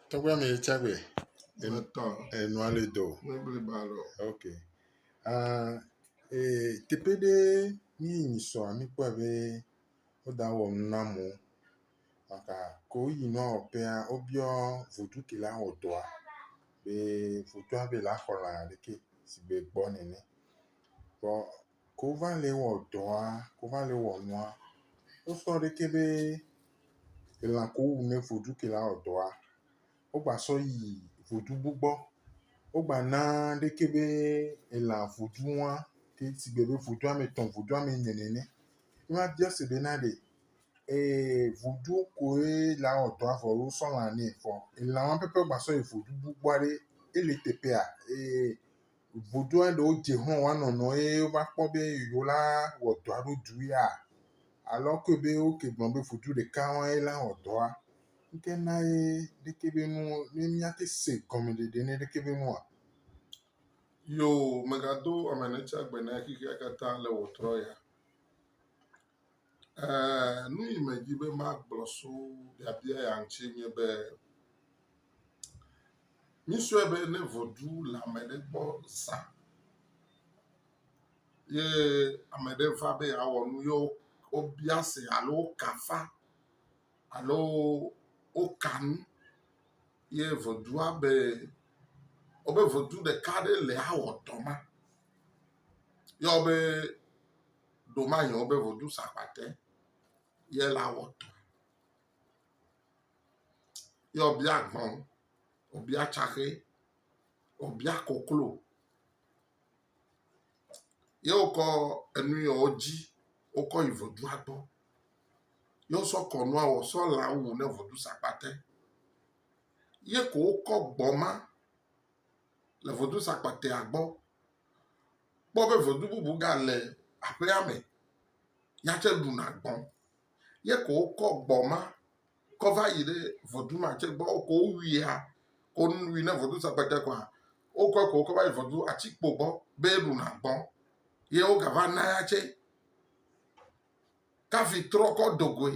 Tɔgbe mi tsa gbe. Enutɔ. Enua le do. Mebli ba lɔ. Ok. Uh, e, teƒe ɖe mi yi sɔ mi kpɔ be woda wɔ nu na mo. Maka ko yi nɔ ɔpea wobiɔ vodu ke la wɔ dɔa. Be vodu abe la xɔ la ɖeke si be gbɔ nene. Kpɔ Ke wova le wɔ dɔa, ke wova le wɔ nua, wosɔ ɖekɛ be elã ke wowu ne vodu ke la wɔ dɔa, wogba sɔ yi vodu bu gbɔ. Wogba na ɖekɛ be elã vodu wa ke si gbe be vodu ame tɔ̃, vodu ame ene nene. Wo va biɔ se be na ɖe ee vodu koe la wɔ dɔa vɔ alo wosɔ lã nɛ vɔ elã wa pɛpɛ wogba sɔ yi vodu bu gbɔ ɖe ele teƒea? Ee. Vodua ɖewo dze xɔ̃ woa nɔnɔ eye wova kpɔ be yewo la wɔ dɔ alo du ya. Alɔ koe be woke gblɔ be vodu ɖeka wɔe ye la wɔ dɔa. Ŋke na ye ɖeke be nu ne míate se gɔmeɖeɖe ne ɖeke be nua. Yoo, megado ame netsagbe na xexea katã le wòtrɔ ya. Eee, nu yi medi be magblɔ so biabia ya ŋuti nye be, mísɔe be ne ʋeɖu le ame ɖe gbɔ zã ye ame ɖe va be yeawɔ nu ye wobia se alo woka afa alo woka nu ye ʋeɖua be wobe ʋeɖu ɖeka ɖe le awɔ dɔ ma. Yɔ be. ɖomahiã wobe vodu sa kpate ye la wɔtɔ. Ye wòbia gbɔ̃, wòbia tsaxe, wòbia koklo. Ye wokɔ enu yɔ wodzi wokɔ yi vodua gbɔ. Ye wosɔ kɔnua wɔ sɔ lã wu ne vodu sa kpate. Ye ko wokɔ gbɔ̃ ma le vodu sa kpatea gbɔ. kpɔ be vedu bubu gale aƒea me, ya tsɛ ɖuna gbɔ. Ye ko wokɔ gbɔ ma kɔ va yi ɖe vedu ma tsɛ gbɔ. Ko wowuia, ko wui ne vedu se kpete kɔa, wokɔe ko wokɔ va yi vedu atikpo gbɔ be ɖuna gbɔ. Ye wogava na ya tsɛ. Kafi trɔkɔ do goe.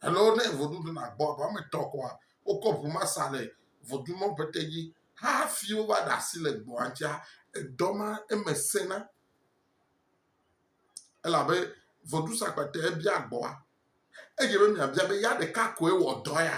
Alo ne vodudu nagbɔ abe woame etɔ̃ kɔa, wokɔ ŋu ma sa le vodumɔ ƒete dzi hafi wova ɖe asi le gbɔ̃a dzia, edɔ ma eme sẽna. Elabe vodusakpatɛ bia gbɔ̃a. Edze be miabia be ya ɖeka koe wɔ dɔ ya?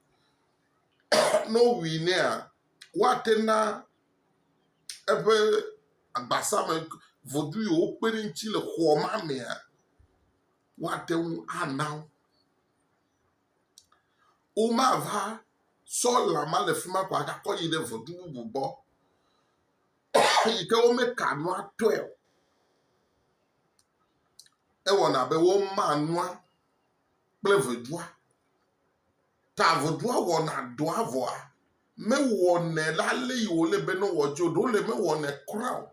ne wowui nɛa, woate na eƒe agbasa me vodu yi wokpe ɖe eŋuti le xɔ ma mea, woate ŋu ana wo. Womava sɔ lã ma le fi ma ko agakɔ ayi ɖe vodu bubu gbɔ yi ke womeka nua tɔe o. Ewɔna abe woma nua kple vodua. Ta vodua wɔna dɔa vɔa mewɔnɛ le ale yi wòle be ne wòadzɔ o. Ɖewo le mewɔnɛ kura o.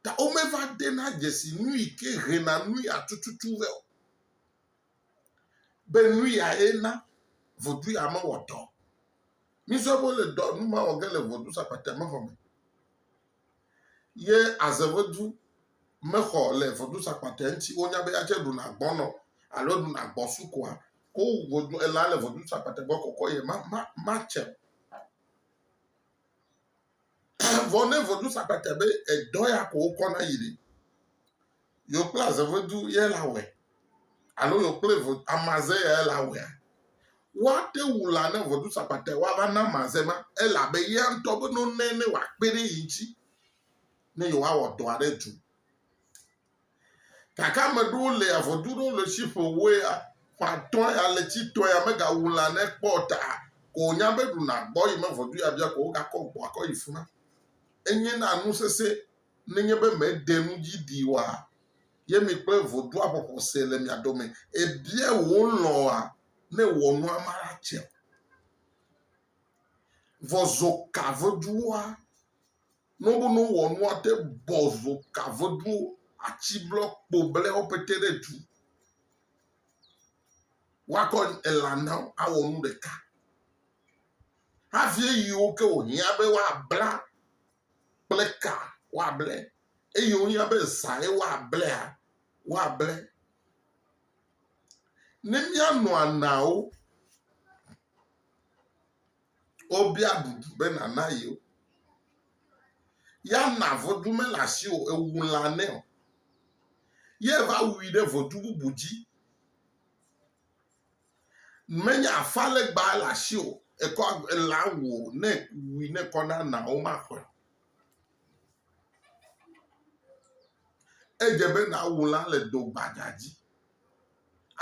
Ta womeva dena dzesi nu yi ke hena nu ya tututu vɛ o. Be nu yae na vodu ya mewɔ dɔ o. Mizɔ be wole dɔ nu ma wɔ ge le vodu sakpatea me vɔ me. Ye azevedu mexɔ le vɔdusakpatɛ ŋti wonya be yatse ɖuna gbɔnɔ alo ɖuna gbɔ sukoa ko vodu ela le vɔdusakpatɛ gbɔ kɔkɔ ye ma ma ma tse. Vɔ ne vɔdusakpatɛ be edɔ ya ko wokɔ na yi ɖe. yewo kple azevedu ye le awɔe alo yewo kple amaze ye le awɔea, woate wu la ne vɔdusakpatɛ woava na amaze ma elabe ya ŋutɔ be no nɛ ne wòakpe ɖe yi ŋuti ne yewoawɔ dɔ aɖe tu. Gake ame ɖewo le avɔdu ɖewo le tsi ƒo woe ya, ƒãtɔ ya le tsi tɔ ya megawu la ne kpɔ ta ko wònya be ɖuna gbɔ yi me vɔdu ya bia ko wogakɔ gbɔ akɔ yi fi ma. Enye na nu sesẽ nenye be mèɖe nu dzi ɖi oa? Ye mi kple vodoaxɔxɔ se le mia dome? Èbia wò lɔ̃a ne wɔ nua maɖatse o? Vɔ zo ka veduwoa? Nobo no wɔ nua te bɔ zo ka veduwo atsi blɔ kpo blɛ wo pete ɖe du. Wakɔ ela na wo awɔ nu ɖeka. Havie yiwo ke wò hiã be woabla kple ka woable, eye wonya be zãe woablea, woable. Ne míanɔ anaawo, wobia ɖuɖu be nàna yewo. Ya na vodu mele asiwò o, èwu lã nɛ o. Ye va wui ɖe vodu bubu dzi. Menye afalegba le asiwò ekɔ elã wu o ne wui ne kɔ na na wo maƒe. Edze be nawu lã le do gbadza dzi.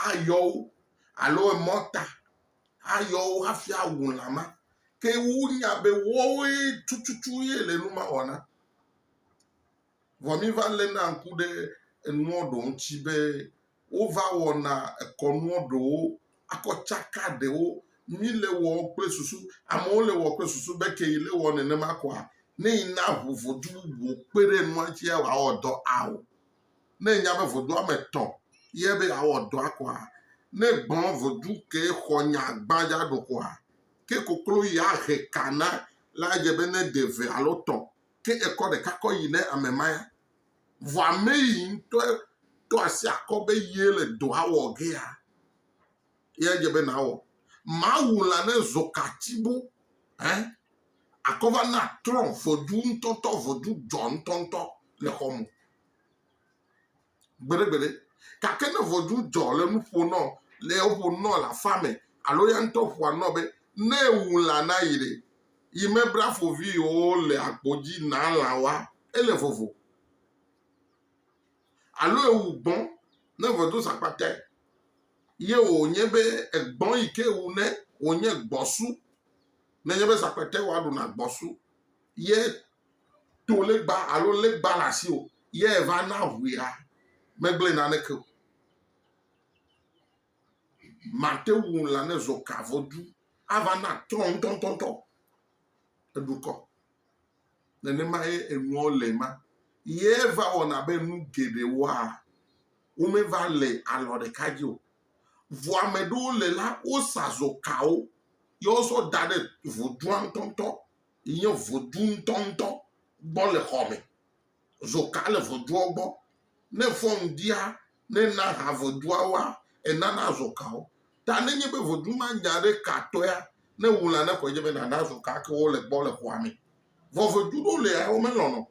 Ayɔ wo alo emɔta ayɔ wo hafi awu lã ma. Ke wonya be woawoe tututu ye le nu ma wɔna. Vɔ míva léna ŋku ɖe enuɔ ɖewo ŋuti be wova wɔna ekɔnuɔ ɖewo akɔ tsaka ɖewo mí le wɔ kple susu. Amewo le wɔ kple susu be ke yi le wɔ nenema kɔa, ne yi na ŋu vodu bubu kpe ɖe enua ŋuti ya wòawɔ dɔ ao. Ne enya be vodu ame etɔ̃ ye be yeawɔ dɔa kɔa, ne gblɔ vodu ke xɔ nya gbãdza ɖo kɔa, ke koklo yi ahe ka na la adze be ne de eve alo tɔ̃ ke ekɔ ɖeka kɔ yi ne ame ma ya. Vɔ ame yi ŋutɔ ɖo asi akɔ be ye le dɔa wɔ gea, ye edze be nawɔ. Mawu la ne zokati bo he akɔ va na trɔ vodzu ŋutɔtɔ, vodzu dzɔ ŋutɔŋutɔ le xɔ me. gbeɖegbeɖe. Gake ne ʋɔtru dzɔ le nu ƒo nɔ, le woƒo nɔ le aƒea me alo ya ŋutɔ ƒoa nɔ be ne ewu lã na yi ɖe, yi mebla foviwo le agbo dzi na lã woa, ele vovo. Alo ewu gbɔ̃, ne ʋɔtru sa akpatae ye wònye be egbɔ̃ yi ke wu ne wònye gbɔ̃su, nenye be sa akpatae wòaɖu na gbɔ̃su ye to legba alo legba le asi o ye va na ʋuia megblẽ naneke o. Mate ŋu la ne zɔ ka vɔ du ava na trɔ ŋutɔŋutɔŋutɔ eɖukɔ. Nenema ye enuawo le ma ye va wɔna be nu geɖewoa womeva le alɔ ɖeka dzi o. Vɔ ame ɖewo le la wosa zɔ kawo ye wozɔ da ɖe vodua ŋutɔŋutɔ. yi nye vodzu ŋutɔŋutɔ gbɔ le xɔ me. Zoka le vodzuɔ gbɔ. Ne fɔn ɖia, ne na ha vodzuawoa, enana zoka wo. Ta ne nye be vodzu ma nya ɖe ka tɔea, ne wu la ne xɔe dze be nana zoka ke wo le gbɔ le xɔa me. Vɔ vodzu ɖewo le ya wo me lɔnɔ.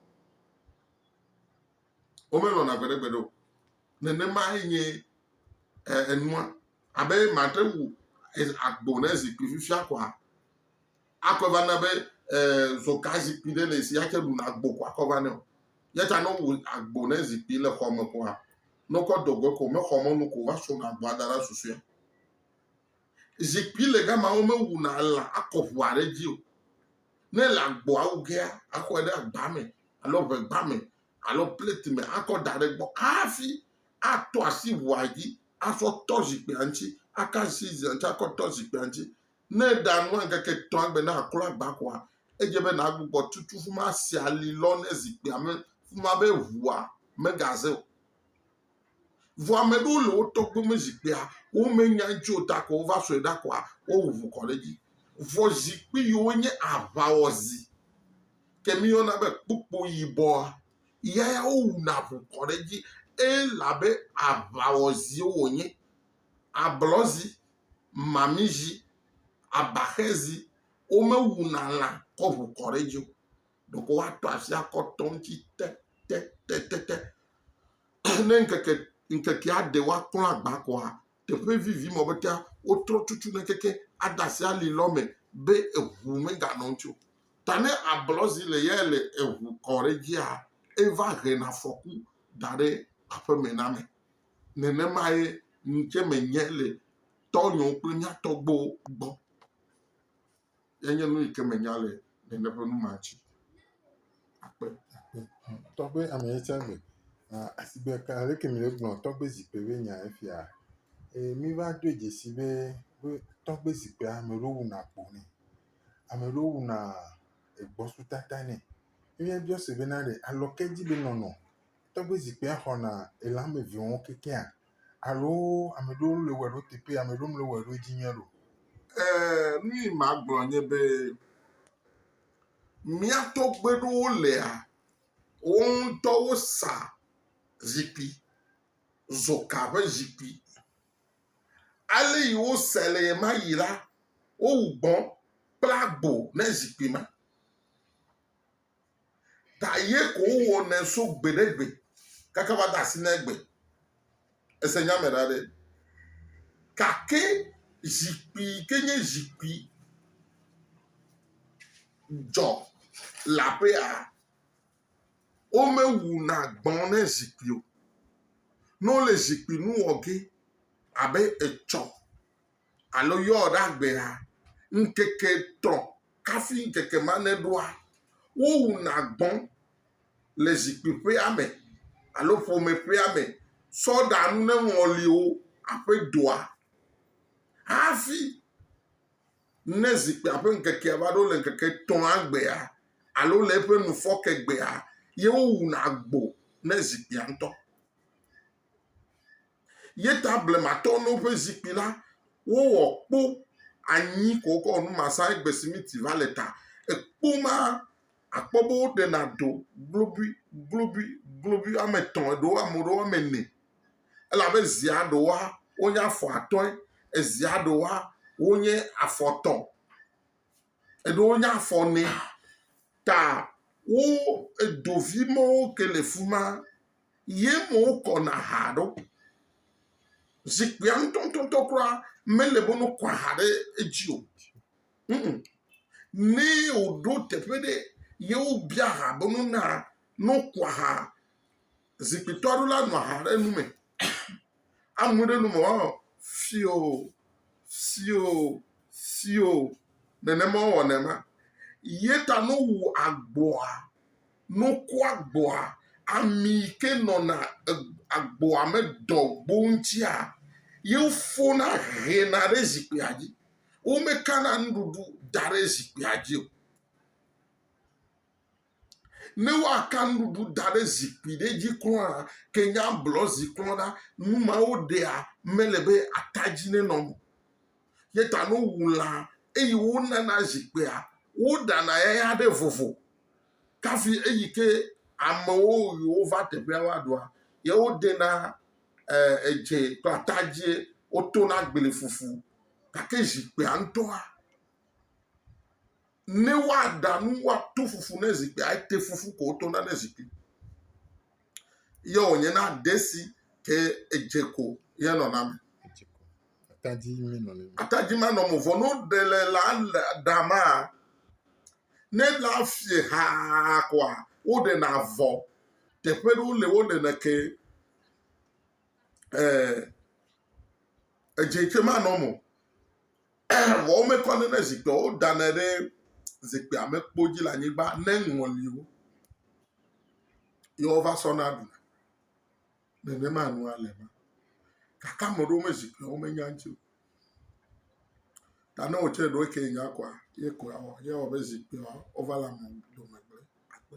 Wo me lɔna gbeɖegbeɖe o. Nenema ye nye enua. Abe mate wu agbo ne zikpui fifia kɔa, Akɔe va na be zɔgazikpui ɖe le si yatse ɖuna agbo ko akɔ va nɛ o. Yata ne wowu agbo ne zikpui le xɔ me koa, ne wokɔ do goe ko mexɔ mɔnu ko va sɔna agboa da ɖe susɔea. Zikpui le gama womewuna lã akɔ ʋua ɖe edzi o. Ne le agboa wu gea, axɔe ɖe agba me alo ʋegba me alo plate me akɔ da ɖe egbɔ hafi atɔ asi ʋua dzi asɔ tɔ zikpuia ŋuti aka asi ʋua ŋuti akɔ tɔ zikpuia ŋuti Ne èɖa nua ŋkeke etɔ̃a gbe ne àklɔ agbaxɔa, edze be nàgbugbɔ tutu ƒu ma si ali lɔ ne zikpuia me ƒu ma be ʋua megaze o. Vɔ ame aɖewo le wo tɔgbe me zikpuia, womenya eŋuti o ta ko wova sɔe ɖa koa, wowu ʋu kɔ ɖe edzi. Vɔ zikpui yiwo nye aʋawɔzi, ke míeyɔna be kpukpo yibɔa, ya ya wowuna ʋu kɔ ɖe edzi elabe aʋawɔziwo wònye. Ablɔzi mamizi, abaxezi, womewuna lã kɔ ʋu kɔ ɖe edzi o. Ɖeko woato asi akɔ tɔ eŋuti tɛtɛtɛtɛtɛ. Ne ŋkeke ŋkekea ɖe woaklɔ agba koa, teƒe vivi ma be tea wotrɔ tutu ne keke ade asi ali lɔ me be eŋu meganɔ eŋuti o. Ta ne ablɔzi le ye le eŋu kɔ ɖe edzia eva hena afɔku da ɖe aƒeme na ame. nenemae ŋutse menye le tɔnyewo kple mía tɔgbuiwo gbɔ. Enye nu yi ke menya le nene ƒe nu ma ŋuti. Akpe. Tɔgbe ame yi tsɛ le asigbe ka leke mìle gblɔ tɔgbe zikpui be nya efia. Eye míva doe dzesi be be tɔgbe zikpuia ame ɖewo wuna akpo nɛ. Ame ɖewo wuna egbɔsɔsɔtata nɛ. Míabiɔ se bena ɖe alɔkedi be nɔnɔ. Tɔgbe zikpuia xɔna ele ame eve wo kekeŋ alo ame aɖewo le wɔe ɖe wo teƒe ame aɖewo mele wɔe ɖe wo dzi nyuie o. Ee, nu yi magblɔ nye be mía tɔgbe ɖewo lea, wo ŋutɔ wosa zikpui, zoka ƒe zikpui. Ale yi wosae le ɣe ma ɣi la, wowu gbɔ kple agbo ne zikpui ma. ta ye ko wowɔ nɛ so gbe ɖe gbe kaka va de asi na egbe. Ese nya me ɖa ɖe. Gake zikpui yi ke nye zikpui dzɔ le aƒea, womewuna gbɔ̃ ne zikpui o. Ne wole zikpui nu wɔ ge abe etsɔ Alo yɔɔ ɖe agbea, ŋkeke etɔ̃ kafi ŋkeke ma neɖoa, wowuna gbɔ̃ le zikpuiƒea me alo ƒomeƒea me tsɔ ɖa nu ne ŋɔli wo aƒe doa. Hafi ne zikpuia ƒe ŋkekea va ɖo le ŋkeke etɔ̃a gbea alo le eƒe nufɔke gbea ye wowuna gbo ne zikpuia ŋutɔ. Ye ta blematɔwo no ƒe zikpui la, wowɔ kpo anyi ko wokɔ wɔ nu ma sa egbe simiti va le ta. Ekpo ma akpɔ be woɖena do globui globui globui woame etɔ̃ eɖewo ame ɖewo woame ene elabe zia ɖewoa wonye afɔ atɔ̃e ezia ɖewoa wonye afɔ etɔ̃. eɖe wo nya fɔ nɛ ta wo edovi mɔwo ke le fuma ye mɔ wo kɔ na ha ɖo zikpuia ŋtɔntɔntɔ kura mele bo no kɔ ha ɖe edzi o mm ne wo ɖo teƒe ɖe ye wo bia ha bo no na no kɔ ha Zikpuitɔ aɖewo la nɔ aha ɖe nume. Amu ɖe nu me woanɔ fio fio fio nenema wowɔnɛ ma ye ta ne wowu agboa ne woku agboa ami yi ke nɔna e agboa me dɔgbo ŋutia ye wofɔna hena ɖe zikpuia dzi. Womekana nuɖuɖu da ɖe zikpuia dzi o. Ne woaka nuɖuɖu da ɖe zikpui ɖe dzi kura ke nye ablɔ zi kura la, nu ma woɖea mele be ata dzi nenɔ o. Ye ta ne wowu lã eye wonana zikpuia, woɖana eya ɖe vovo kafi eyi ke amewo yi wova teƒea woaɖua, ye wodena eh, edze kple ata dzie, wotona gbefufu. Gake zikpuia ŋutɔa, ne woaɖa nu woato fufu ne zikpui ete fufu ko wotona ne zikpui ye wònye na ɖe si ke edze ko ye nɔna me. Atadzi menɔnɔ. Atadzi manɔme vɔ no ɖe le la ɖama ne la fie haa koa woɖena vɔ teƒe ɖewo le woɖena ke ee eh, edze ke manɔme o. Vɔ womekɔnɛ ɖe zikpia o, wodanɛ ɖe zikpia me kpo dzi le anyigba ne ŋɔliwo ye wova sɔna ɖuna. Nenema nua le ma. Gake ame ɖewo me zikpia womenya ŋuti o. Ta ne wò tsɛ ɖewo ke nya kɔa, ye koe awɔ. Ye awɔ be zikpia wova le ame dome gblẽ akpe.